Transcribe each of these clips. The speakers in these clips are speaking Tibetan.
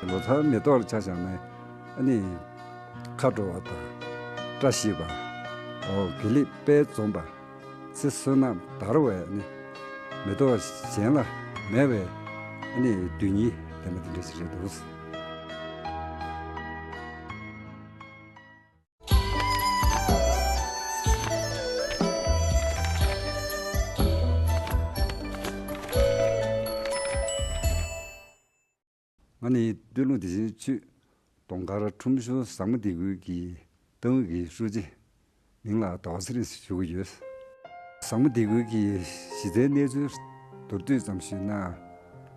ལོ་ཚར་མེ་ཏོག་ལ་ཆ་བཞག་ནས་ནི། མཁའ་འགྲོ་བ་དང་བཀྲ་ཤིས་པ། དགེ་ལེགས་དཔལ་འཛོམས་པ། ཚེ་བསོད་ནམས་དར་བས་ནི། མེ་ཏོག་གཞན་ལ་མེད་པའི་ནི་དུས་ཉིད་དེ་མ་ཏི་འདྲ་ཞིག་རེད་འདུག། ང་ནི་སྟོད་ལུང་བདེ་ཆེན་ཆུས་གདོང་དཀར་ཁྲོམ་གཞུང་བཟང་མོ་སྡེ་ཁུལ་གྱི་ཏང་ཨུད་ཀྱི་ཧྲུའུ་ཅི་མིང་ལ་དྭོགས་གཟིགས་རེ་ཞུ་གི་ཡོད། བཟང་མོ་སྡེ་ཁུལ་གྱི་གཞི་རྩའི་གནས་ཚུལ་མདོར་བསྡུས་ཙམ་ཞུས་ན།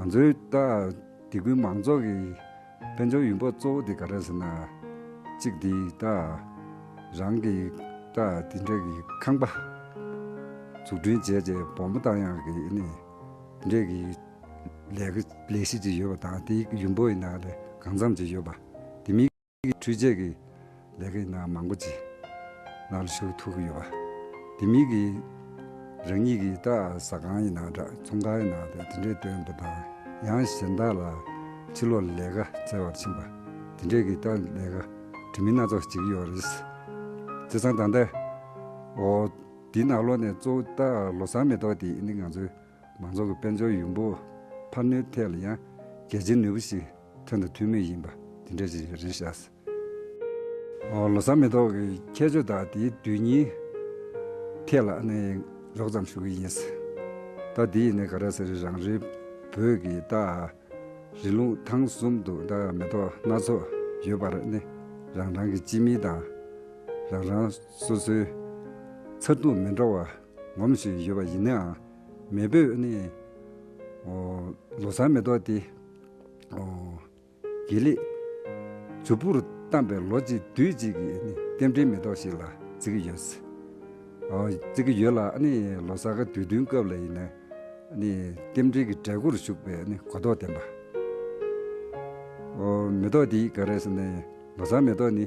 ང་ཚོའི་ད་ལྟའི་གུས་མང་ཚོགས་ཀྱི་དཔལ་འབྱོར་ཡུན་བབ་གཙོ་བོ་དེ་ག་རེ་ཟེར་ན། གཅིག་དེ་ད་རང་གི་ད་དེ་འདྲས་ཀྱི་ཁང་པ་འཛུགས་སྐྲུན་བྱས་རྗེས་བོགས་མ་བཏང་ཡང་གི་ནི་དེ་འདྲས་ཀྱི་ལས་ཀ་ལས་གཞི་ཅིག་ཡོད་པ་དང་དེའི་ཡུན་བབ་ཡིན་ན་ལས་གང་འཚམ་ཅིག་ཡོད་པ་དེ་མིན། འཕྲུལ་ཆས་ཀྱི་ལས་ཀའི་ནང་མང་པོ་ཅིག་ནག་ལུ་ཞུགས་ཐུབ་ཀྱི་ཡོད་པ་དེ་མིན་གྱི། རང་ཉིད་ཀྱི་བཀྲ་ཟ་ཁང་ཡི་ནང་དྲ་ཚོང་ཁང་ཡི་ནང་དུ་དེ་འདྲའི་དོན་དུ་དང་ཡང་གཞན་དག་ལ་ཕྱི་ལོག་ལས་ཀ་བཙལ་བར་ཕྱིན་པ་དེ་འདྲས་ཀྱི་སྟབས་ལས་ཀ་དྲི་མི་སྣ་ཚོགས་ཅིག་ཡོད་རེད། བརྩེ་ཚང་ད་ལྟ། འོ། འདི་ནག་ལོ་ནས་གཙོ་བོ་ད་ལོ་སང་མེ་ཏོག་དེ་ནི་ང་ཚོའི། མང་ཚོགས་ཀྱི་དཔལ་འབྱོར་ཡོང་འབབ་འཕར་སྣོན་ཐད་ལ་ཡང་གལ་ཆེན་ནུས་པ་ཞིག་ཐོན་དང་ཐོན་མུས་ཡིན་པ་དེ་འདྲ་ཞིག་རེད་བཞག་སྲིད། ལོ་གསར་མེ་ཏོག་གི་ཁྱད་ཆོས་དག་དེའི་དུས་ཉིའི་ཐད་ལ་མགྱོགས་ཙམ་ཞུ་གི་ཡིན། རྟགས་དེ་ཡིས་ག་རེ་ཟེར་རང་རེའི་བོད་ཀྱི་རྟགས་རི་ལུང་ཐང་གསུམ་དུ་མེ་ཏོག་སྣ་ཚོགས་ཡོད་པར་རང་རང་གི་སྤྱི་མིང་དང་རང་རང་སོ་སོའི་མཚར་སྡུག་མི་འདྲ་བ་ངོམ་བཞིན་ཡོད་པ་ཡིན་ནའང། མེས་པོས་ནི། ལོ་སར་མེ་ཏོག་དེ། དགེ་ལེགས། མཛོད་སྤུར་བལྟམས་པའི་ལོ་གཅིག་དུས་གཅིག་གི་རྟེན་འབྲེལ་མེ་ཏོག་ཞིག་ལ་བརྩི་གི་ཡོད། བརྩི་གི་ཡོད་ལ། ལོ་སར་ག་དུས་བསྟུན་སྐབས་ལ་ཡིན་ན། རྟེན་འབྲེལ་གྱི་གྲལ་མགོར་ཞུགས་པའི་གོ་རྟོགས་ལྡན་པ། མེ་ཏོག་དེའི་ག་རེ་ཟེར་ན། ལོ་སར་མེ་ཏོག་ནི།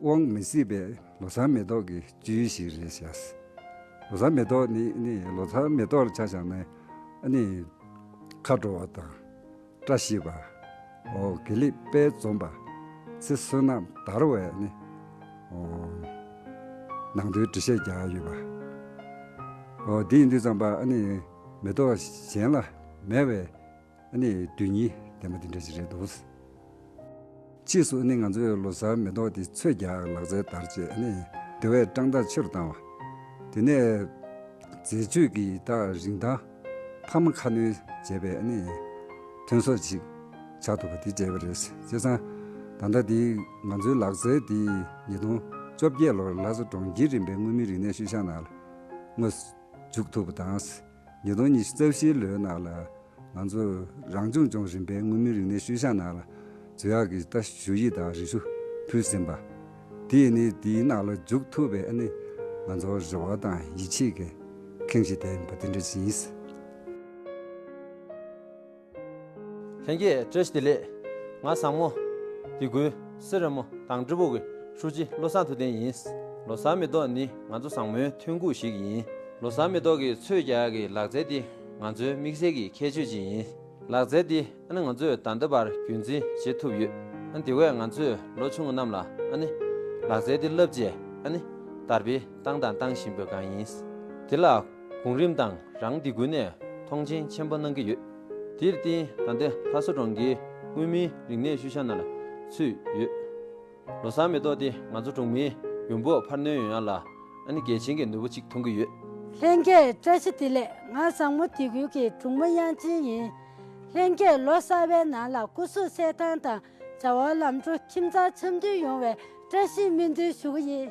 དབང་མི་སྲིད་པའི་ལོ་ཚར་མེ་ཏོག་གི་བཅུད་ཞིག་རེད་བྱས། ལོ་ཚར་མེ་ཏོག་ནི་ནི་ལོ་ཚར་མེ་ཏོག་ལ་ཆ་བཞག་ན་ནི། མཁའ་འགྲོ་བ་དང། བཀྲ་ཤིས་པ། ཨོ་གི་ལི་དཔལ་འཛོམས་པ། ཚེ་བསོད་ནམས་དར་བས་ནི། ཨོ། ནང་དོན་འབྲི་བཤད་རྒྱག་ཡོད་པ། ཨོ་འདིས་འདི་ཙམ་པ་ནི་མེ་ཏོག་གཞན་ལ་མེད་པས། ཨ་ནེ་དུས་གཉིས་ལྡན་པ་འདི་འདྲ་ཞིག་རེད་འདུག། ཕྱིས་སུ་ཨ་ནེ་ང་ཚོའི་ལོ་སར་མེ་ཏོག་དེ་ཚོད་བརྒྱ་ལག་རྩལ་དར་རྗེས་ཨ་ནེ་སྡེ་བས་སྤྲང་རྟགས་ཆེ་རུ་བཏང་བ། དེ་ནས། འཛད་སྤྱོད་ཀྱི་རྟགས་རིན་ཐང་འཕར་མ་ཁ་སྣོན་བྱས་པས་ཨ་ནེ། ཐོན་ཟོག་ཅིག་ཆགས་ཐུབ་པ་དེ་བརྗེད་པ་རེད། བྱས་ཙང། ད་ལྟ་དེ་ང་ཚོའི་ལག་རྩལ་དེ་ཉིས་སྟོང་བཅོ་བརྒྱད་ལོར་ལྷ་ས་གྲོང་ཁྱེར་རིམ་པའི་མངོན་མིན་རིག་གནས་ཤུལ་བཞག་ནང་ལ་དངོས་སུ་འཇུག་ཐུབ་པ་དང། ཉིས་སྟོང་ཉི་ཤུ་རྩ་བཞིའི་ལོའི་ནང་ལ། ང་ཚོ་རང་སྐྱོང་ལྗོངས་རིམ་པའི་མངོན་མིན་རིག་གནས་ཤུལ་བཞག་ནང་ལ། རྫས་ཡག་གི་ལྟ་ཞུ་ཡིག་དང་རེ་ཞུ་ཕུལ་ཟིན་པ། དེས་ནི་འདིའི་ནང་ལ་འཇུག་ཐུབ་པའི་ནི། ང་ཚོ་རེ་བ་དང་ཡིད་ཆེས་ཀྱི་ཁེངས་ཤིང་དད་པ་དེ་འདྲ་ཞིག་ཡིན། ལྷན་རྒྱས་བཀྲ་ཤིས་བདེ་ལེགས། ང་བཟང་མོ། དེ་ཀུན་གསེར་ར་མོ་དང་ཀྲི་པུའུ་གི་ཧྲུའུ་ཅི་བློ་བཟང་ཐུབ་བསྟན་ཡིན། ལོ་སར་མེ་ཏོག་ནི་ང་ཚོ་བཟང་མོའི་ཐོན་ཁུངས་ཤིག་ཡིན། ལོ་སར་མེ་ཏོག་གི་ཚོས་རྒྱག་གི་ལག་རྩལ་དེ་ང་ཚོའི་དམིགས་བསལ་གྱི་ཁྱད་ཆོས་ཅིག་ཡིན། ལག་རྩལ་དེ་ང་ཚོས་ད་ལྟ་བར་རྒྱུན་འཛིན་བྱེད་ཐུབ་ཡོད། དེ་བས་ང་ཚོས་ལོ་ཆུང་རྣམས་ལ་ལག་རྩལ་དེ་བསླབ་རྗེས་དར་སྤེལ་བཏང་དང་བཏང་བཞིན་པ་གང་ཡིན། དེ་ལ། གོང་རིམ་ཏང་རང་སྡེ་ཀུན་ནས་མཐོང་ཆེན་ཆེན་པོ་གནང་གི་ཡོད། དེར་བརྟེན་ད་ལྟའི་ལྷ་ས་གྲོང་ཁྱེར་མངོན་མིན་རིག་གནས་ཤུལ་བཞག་ནང་ལ་ཚུད་ཡོད། ལོ་སར་མེ་ཏོག་དེ་ང་ཚོ་གྲོང་མིའི་ཡོང་འབབ་འཕར་སྣོན་ཡོང་ཡག་ལ་ཨ་ནི་གལ་ཆེན་གྱི་ནུས་པ་གཅིག་མཐོང་གི་ཡོད། ལྷན་རྒྱས་བཀྲ་ཤིས་བདེ་ལེགས་ང་བཟང་མོ་སྡེ་ཁུལ་གྱི་དྲུང་མུ་དབྱངས་ཅན་ཡིན། ལྷན་རྒྱས་ལོ་གསར་བའི་ནང་ལ་སྐུ་གཟུགས་གསལ་ཐང་དང་བྱ་བ་ལམ་འགྲོ་ཁྱིམ་ཚང་འཆམ་མཐུན་ཡོང་བའི་བཀྲ་ཤིས་སྨོན་འདུན་ཞུ་གི་ཡིན།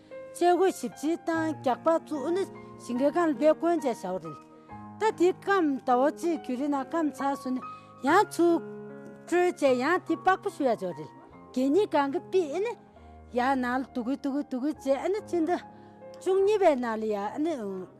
བཅས་སྒོས་ཞིབ་ཕྱིའི་ཏང་རྒྱག་པ་ཚུ་ཨུ་ནི་ཞིང་གི་ཀན་ལྷོའི་བཀོན་ཆས་བྱ་བ་རེད། ད་དེའི་སྐམ་ད་བོ་ཅི་གུ་རི་ན་སྐམ་ཚ་སུ་ནི་ཡང་ཚུ་ཀྲོའི་བཅས་ཡང་དེ་པགས་པོ་ཞུ་ཡ་ཅོ་རེད། གད་སྙིགས་གང་གི་པི་ཨི་ནི་ཡ་ནང་ལ་དུ་གུ་དུ་གུ་དུ་གུ་བཅས་ཨི་ནི་ཅི་འདི་ཅུང་སྙི་བའི་ནང་ལ་ཡ་ཨི་ནི།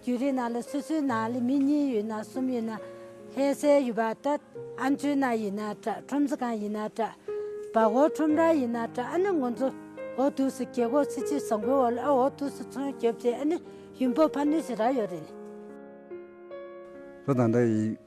རྒྱུད་རིགས་ནང་ལ་སོ་སོའི་ནང་ལས་མི་གཉིས་ཡོད་ན་གསུམ་ཡོད་ན་ལྷའི་སྲས་ཡོད་པ་དགྲ་ཨ་མཆོད་ན་ཡིན་ན་དགྲ་ཁྲོམ་ཚེ་གང་ཡིན་ན་དགྲ་བ་འོག་ཁྲོམ་ར་ཡིན་ན་དགྲ་ཨ་ནི་ངོ་མཚོ་འོག་དུས་སུ་གྱེས་འགོག་ཚེ་ཕྱི་བཟང་པོའི་འོག་ལ་ཨ་འོག་དུས་སུ་མཚོན་རྒྱོབ་བྱེད་ཨ་ནི་ཡུམ་བུ་ཕ་ནུས་ཞེས་ར་ཡོད་རེད། ལྷ་དང་དགྲ་ཡི།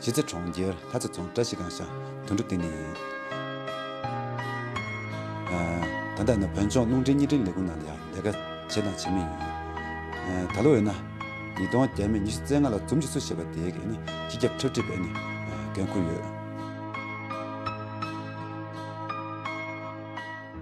གཞིས་རྩེ་གྲོང་ཁྱེར་ལྷ་རྩེ་རྫོང་བཀྲ་ཤིས་སྒང་ཤང་དུད་འགྲོ་ལྟེ་གནས་ཡིན། ད་ལྟ་ཡིན་ན་བོད་ལྗོངས་རླུང་འཕྲིན་གཉིས་སྒྲིག་ལས་ཁུངས་ནང་ལ་ཡང་ལས་ཀ་བྱེད་དང་བྱེད་མུས་ཡིན། ད་ལོ་འོས་ན། ཉིས་སྟོང་བརྒྱད་མའི་ཉི་ཤུ་རྩེ་ལྔ་ལ་འཛུམ་གྱི་སུ་ཞེས་པ་དེའི་གི་ནི་སྤྱི་ཁྱབ་འཁྲབ་ཁྲིད་པའི་ནི་འགན་ཁུར་ཡོད།